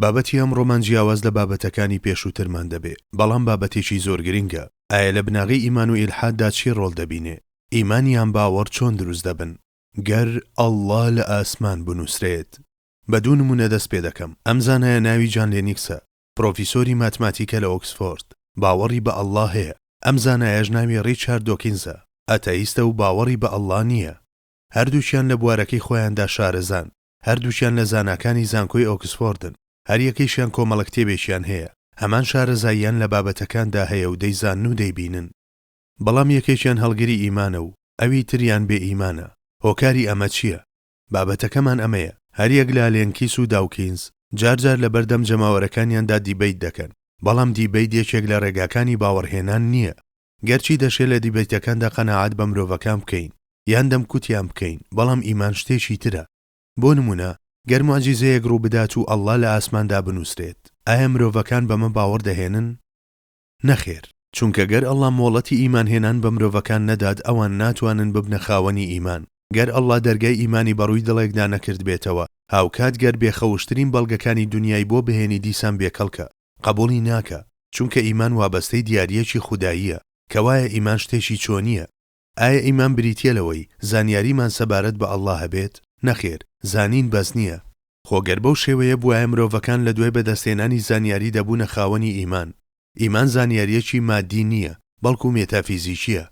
بابەتی ئەمڕۆمان جیاواز لە بابەتەکانی پێشووترمان دەبێ بەڵام بابەتێکی زۆر گرنگە ئایا لە بناغەی ئیمان و ئیلحاددا چی ڕۆڵ دەبینێ ئیمانیان باوەڕ چۆن دروست دەبن گەر ئەڵڵا لە ئاسمان بنووسرێت بە دوو نمونە دەست پێ دەکەم ئەم زانایە ناوی جان لێنیکسە پرۆفیسۆری ماتماتیکە لە ئۆکسفۆرد، باوەڕی بە ئەڵڵا هەیە، ئەم زانایەش ناوی ڕیچارد دۆکینزە، ئەتەئیستە و باوەڕی بە ئەڵڵا نییە. هەردووکیان لە بوارەکەی خۆیاندا شارەزان، هەردووکیان لە زاناکانی زانکۆی ئۆکسفۆردن، هەریەکەیشیان کۆمەڵە کتێبێکیان هەیە، هەمان شارەزاییان لە بابەتەکاندا هەیە و دەیزانن و دەیبینن، بەڵام یەکێکیان هەڵگری ئیمانە و ئەوی تریان بێ ئیمانە، هۆکاری ئەمە چییە؟ بابەتەکەمان ئەمەیە، هەریەک لە لێنکیس و داوکینز جار جار لەبەردەم جەماوەرەکانیاندا دیبەیت دەکەن، بەڵام دیبەیت یەکێک لە ڕێگاکانی باوەڕهێنان نییە. گەرچی دەشێ لە دیبەیتەکاندا قەناعەت بە مرۆڤەکان بکەین یان دەمکوتیان بکەین، بەڵام ئیمان شتێکی ترە. بۆ نموونە گەر موعجیزەیەک ڕووبدات و ئەڵڵا لە ئاسماندا بنووسرێت، ئایا مرۆڤەکان بەمە باوەڕ دەهێنن؟ نەخێر، چونکە گەر اللە مۆڵەتی ئیمان هێنان بە مرۆڤەکان نەدات ئەوان ناتوانن ببنە خاوەنی ئیمان، گەر اللە دەرگای ئیمانی بەڕووی دڵێکدا نەکردبێتەوە هاوکات گەر بێ خەوشترین بەڵگەکانی دونیای بۆ بهێنی دیسان بێ کەڵکە قەبوڵی ناکا چونکە ئیمان وابەستەی دیاریەکی خوداییە کەوایە ئیمان شتێکی چۆنیە ئایا ئیمان بریتیە لەوەی زانیاریمان سەبارەت بە اللە هەبێت؟ نەخێر، زانین بەس نیە. خۆ گەر بەو شێوەیە بوایە مرۆڤەکان لە دوای بەدەستهێنانی زانیاری دەبوونە خاوەنی ئیمان. ئیمان زانیاریەکی مادی نیە، بەڵکو مێتافیزیکیە.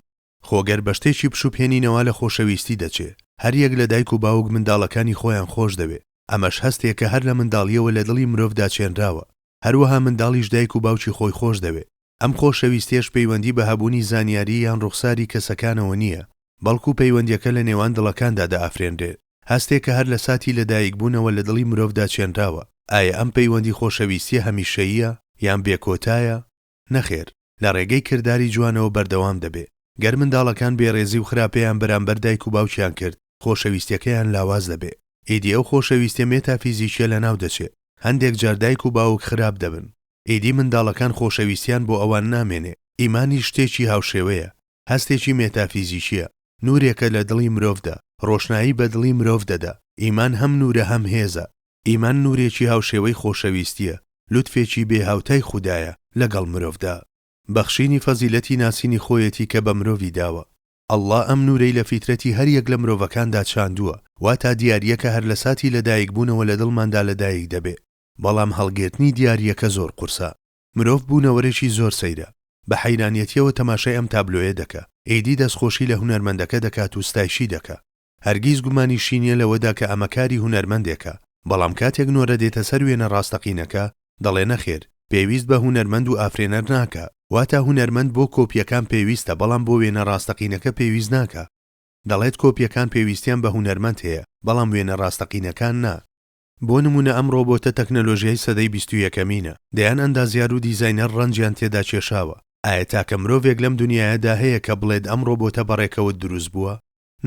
خۆ گەر بە شتێکی پشوبهێنینەوە لە خۆشەویستی دەچێ. هەر یەک لە دایک و باوک منداڵەکانی خۆیان خۆش دەوێ. ئەمەش هەستێکە هەر لە منداڵیەوە لە دڵی مرۆڤدا چێنراوە. هەروەها منداڵیش دایک و باوکی خۆی خۆش دەوێ. ئەم خۆشەویستیەش پەیوەندی بە هەبوونی زانیاری یان ڕوخساری کەسەکانەوە نییە، بەڵکو پەیوەندیەکە لە نێوان دڵەکاندا دەئافرێنرێت، هەستێک کە هەر لە ساتی لەدایکبوونەوە لە دڵی مرۆڤدا چێنراوە. ئایا ئەم پەیوەندی خۆشەویستیە هەمیشەییە؟ یان بێکۆتایە؟ نەخێر، لە ڕێگەی کرداری جوانەوە بەردەوام دەبێت. گەر منداڵەکان بێڕێزی و خراپەیان بەرامبەر دایک و باوکیان کرد، خۆشەویستیەکەیان لاواز دەبێت. ئیدی ئەو خۆشەویستیە مێتافیزیکیە لەناو دەچێت. هەندێک جار دایک و باوک خراپ دەبن. ئیدی منداڵەکان خۆشەویستیان بۆ ئەوان نامێنێ. ئیمانیش شتێکی هاوشێوەیە، هەستێکی مێتافیزیکییە، نوورێکە لە دڵی مرۆڤدا، ڕۆشنایی بە دڵی مرۆڤ دەدا. ئیمان هەم نوورە هەم هێزە. ئیمان نوورێکی هاوشێوەی خۆشەویستییە، لوتفێکی بێ هاوتای خودایە لەگەڵ مرۆڤدا. بەخشینی فەزیلەتی ناسینی خۆیەتی کە بە مرۆڤی داوە. اللە ئەم نوورەی لە فیترەتی هەر یەک لە مرۆڤەکاندا چاندووە، واتا دیارییەکە هەر لە ساتی لەدایکبوونەوە لە دڵماندا لەدایک دەبێ. بەڵام هەڵگرتنی دیارییەکە زۆر قورسە. مرۆڤ بوونەوەرێکی زۆر سەیرە. بە حەیرانیەتییەوە تەماشای ئەم تابلۆیە دەکا. ئیدی دەستخۆشی لە هونەرمەندەکە دەکات و ستایشی دەکا. هەرگیز گومانیشی نییە لەوەدا کە ئەمە کاری هونەرمەندێکە. بەڵام کاتێک نۆرە دێتە سەر وێنە ڕاستەقینەکە، دەڵێ نەخێر، پێویست بە هونەرمەند و ئافرێنەر ناکا. واتە هونەرمەند بۆ کۆپییەکان پێویستە بەڵام بۆ وێنە ڕاستەقینەکە پێویست ناکا. دەڵێت کۆپییەکان پێویستیان بە هونەرمەند هەیە بەڵام وێنە ڕاستەقینەکان نا. بۆ نموونە ئەم ڕۆبۆتە تەکنەلۆژیای سەدەی بیست و یەکەمینە، دەیان ئەندازیار و دیزاینەر ڕەنجیان تێدا کێشاوە، ئایا تاکە مرۆڤێک لەم دونیایەدا هەیە کە بڵێت ئەم ڕۆبۆتە بە ڕێکەوت دروست بووە؟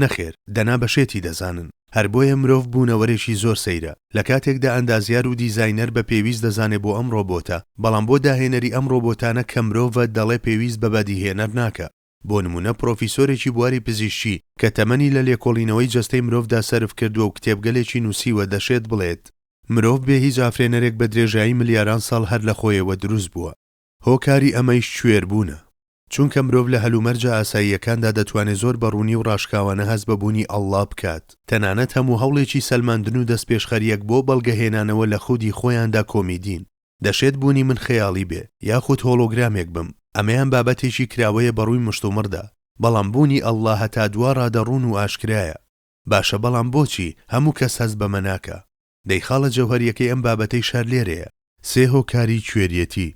نەخێر، دەنا بە شێتی دەزانن. هەر بۆیە مرۆڤ بوونەوەرێکی زۆر سەیرە، لە کاتێکدا ئەندازیار و دیزاینەر بە پێویست دەزانێ بۆ ئەم ڕۆبۆتە، بەڵام بۆ داهێنەری ئەم ڕۆبۆتانە کە مرۆڤە دەڵێ پێویست بە بەدیهێنەر ناکا. بۆ نموونە پرۆفیسۆرێکی بواری پزیشکی کە تەمەنی لە لێکۆڵینەوەی جەستەی مرۆڤدا سەرف کردووە و کتێبگەلێکی نووسیوە دەشێت بڵێت، مرۆڤ بێ هیچ ئافرێنەرێک بە درێژایی ملیاران ساڵ هەر لە خۆیەوە دروست بووە. هۆکاری ئەمەیش کوێربوونە. چونکە مرۆڤ لە هەلومەرجە ئاساییەکاندا دەتوانێت زۆر بە ڕوونی و ڕاشکاوانە هەست بە بوونی اللە بکات، تەنانەت هەموو هەوڵێکی سەلماندن و دەستپێشخەرییەک بۆ بەڵگەهێنانەوە لە خودی خۆیاندا کۆمیدین. دەشێت بوونی من خەیاڵی بێ یاخود هۆڵۆگرامێک بم، ئەمەیان بابەتێکی کراوەیە بەڕووی مشتومڕدا، بەڵام بوونی اللە هەتا دوا ڕادە ڕوون و ئاشکرایە، باشە بەڵام بۆچی هەموو کەس هەست بەمە ناکا؟ دەی خاڵە جەوهەریەکەی ئەم بابەتەیش هەر لێرەیە. سێ هۆکاری کوێریەتی،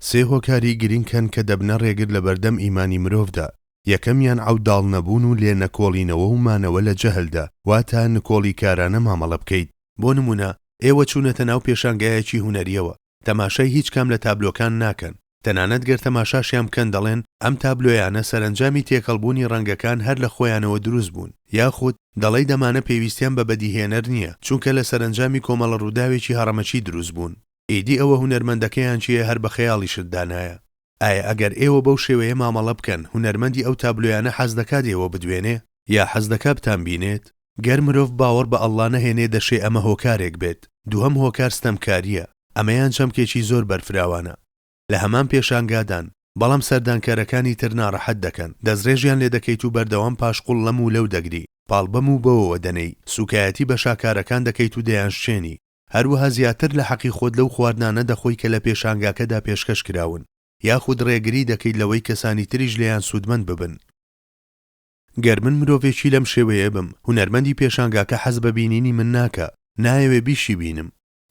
سێ هۆکاری گرینگ هەن کە دەبنە ڕێگر لەبەردەم ئیمانی مرۆڤدا، یەکەمیان عەوداڵ نەبوون و لێ نەکۆڵینەوە و مانەوە لە جەهلدا، واتە نکۆڵیکارانە مامەڵە بکەیت. بۆ نموونە، ئێوە چوونەتە ناو پێشانگایەکی هونەرییەوە، تەماشای هیچ کام لە تابلۆکان ناکەن، تەنانەت گەر تەماشاشیان بکەن دەڵێن ئەم تابلۆیانە سەرەنجامی تێکەڵبوونی ڕەنگەکان هەر لە خۆیانەوە دروست بوون، یاخود دەڵیت ئەمانە پێویستیان بە بەدیهێنەر نییە، چونکە لە سەرەنجامی کۆمەڵە ڕووداوێکی هەڕەمەکی دروست بوون. ئیدی ئەوە هونەرمەندەکەیان کێیە هەر بە خەیاڵیشت دانایە. ئایا ئەگەر ئێوە بەو شێوەیە مامەڵە بکەن، هونەرمەندی ئەو تابلۆیانە حەز دەکات ئێوە بدوێنێ؟ یا حەز دەکات بتانبینێت؟ گەر مرۆڤ باوەڕ بە ئەڵڵا نەهێنێ دەشێ ئەمە هۆکارێک بێت، دووهەم هۆکار ستەمکارییە، ئەمەیان چەمکێکی زۆر بەرفراوانە. لە هەمان پێشانگادان، بەڵام سەردانکەرەکانی تر ناڕەحەت دەکەن، دەستڕێژیان لێ دەکەیت و بەردەوام پاشقوڵ لەم و لەو دەگری، پاڵ بەم و بەوەوە دەنێی، سووکایەتی بە شاکارەکان دەکەیت و دەیانشکێنی. هەروەها زیاتر لە حەقی خۆت لەو خواردنانە دەخۆی کە لە پێشانگاکەدا پێشکەش کراون، یاخود ڕێگری دەکەیت لەوەی کەسانی تریش لێیان سوودمەند ببن. گەر من مرۆڤێکی لەم شێوەیە بم، هونەرمەندی پێشانگاکە حەز بە بینینی من ناکا، نایەوێ بیشیبینم.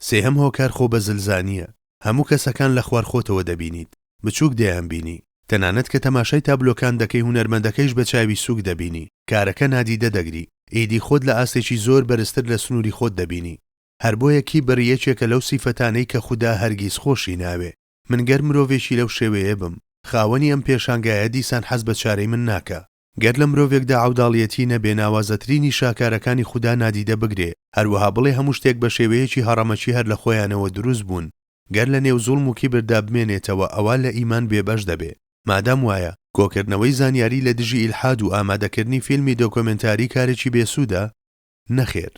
سێهەم هۆکار خۆبەزلزانییە. هەموو کەسەکان لە خوار خۆتەوە دەبینیت، بچووک دەیانبینی، تەنانەت کە تەماشای تابلۆکان دەکەی هونەرمەندەکەیش بە چاوی سووک دەبینی، کارەکە نادیدە دەگری، ئیدی خۆت لە ئاستێکی زۆر بەرزتر لە سنووری خۆت دەبینی. هەر بۆیە کیبر یەکێکە لەو سیفەتانەی کە خودا هەرگیز خۆشی ناوێ. من گەر مرۆڤێکی لەو شێوەیە بم، خاوەنی ئەم پێشانگایە دیسان حەز بە چارەی من ناکا. گەر لە مرۆڤێکدا عەوداڵیەتی نەبێ ناوازەترینی شاکارەکانی خودا نادیدە بگرێ، هەروەها بڵێ هەموو شتێک بە شێوەیەکی هەڕەمەکی هەر لە خۆیانەوە دروست بوون، گەر لە نێو زوڵم و کیبردا بمێنێتەوە ئەوا لە ئیمان بێ بەش دەبێ. مادام وایە، کۆکردنەوەی زانیاری لە دژی ئیلحاد و ئامادەکردنی فیلمی دۆکۆمێنتاری کارێکی بێ سوودە؟ نەخێر.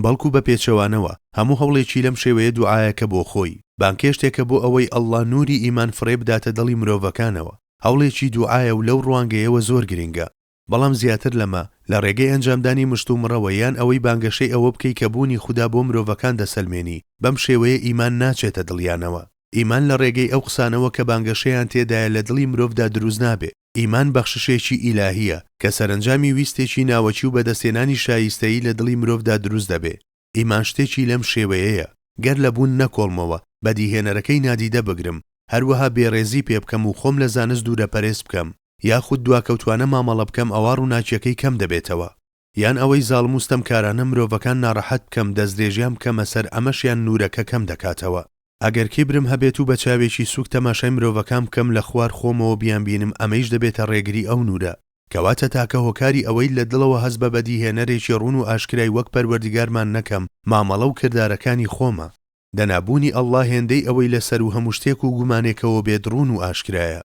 بەڵکو بە پێچەوانەوە هەموو هەوڵێکی لەم شێوەیە دوعایەکە بۆ خۆی، بانگهێشتێکە بۆ ئەوەی اللە نوری ئیمان فڕێ بداتە دڵی مرۆڤەکانەوە، هەوڵێکی دوعایە و لەو ڕوانگەیەوە زۆر گرنگە، بەڵام زیاتر لەمە، لە ڕێگەی ئەنجامدانی مشتومڕەوە یان ئەوەی بانگەشەی ئەوە بکەی کە بوونی خودا بۆ مرۆڤەکان دەسەلمێنی، بەم شێوەیە ئیمان ناچێتە دڵیانەوە، ئیمان لە ڕێگەی ئەو قسانەوە کە بانگەشەیان تێدایە لە دڵی مرۆڤدا دروست نابێ، ئیمان بەخششێکی ئیلاهییە کە سەرەنجامی ویستێکی ناوەکی و بەدەستهێنانی شایستەیی لە دڵی مرۆڤدا دروست دەبێ. ئیمان شتێکی لەم شێوەیەیە، گەر لە بوون نەکۆڵمەوە، بەدیهێنەرەکەی نادیدە بگرم، هەروەها بێڕێزی پێ بکەم و خۆم لە زانست دوورەپەرێز بکەم، یاخود دواکەوتوانە مامەڵە بکەم ئەوا ڕووناکییەکەی کەم دەبێتەوە. یان ئەوەی زاڵم و ستەمکارانە مرۆڤەکان ناڕەحەت بکەم دەستدرێژیان بکەمە سەر ئەمەشیان نوورەکە کەم دەکاتەوە ئەگەر کیبرم هەبێت و بە چاوێکی سووک تەماشای مرۆڤەکان بکەم لە خوار خۆمەوە بیانبینم ئەمەیش دەبێتە ڕێگری ئەو نوورە کەواتە تاکە هۆکاری ئەوەی لە دڵەوە هەست بە بەدیهێنەرێکی ڕوون و ئاشکرای وەک پەروەردگارمان نەکەم مامەڵە و کردارەکانی خۆمە دەنا بوونی اللە هێندەی ئەوەی لە سەروو هەموو شتێک و گومانێکەوە بێت ڕوون و ئاشکرایە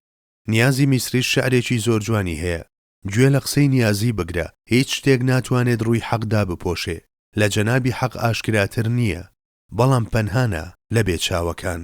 نیازی میسریش شعرێکی زۆر جوانی هەیە گوێ لە قسەی نیازی بگرە هیچ شتێک ناتوانێت ڕووی حەق دابپۆشێ لە جەنابی حەق ئاشکراتر نییە بەڵام پەنهانە لە بێ چاوەکان.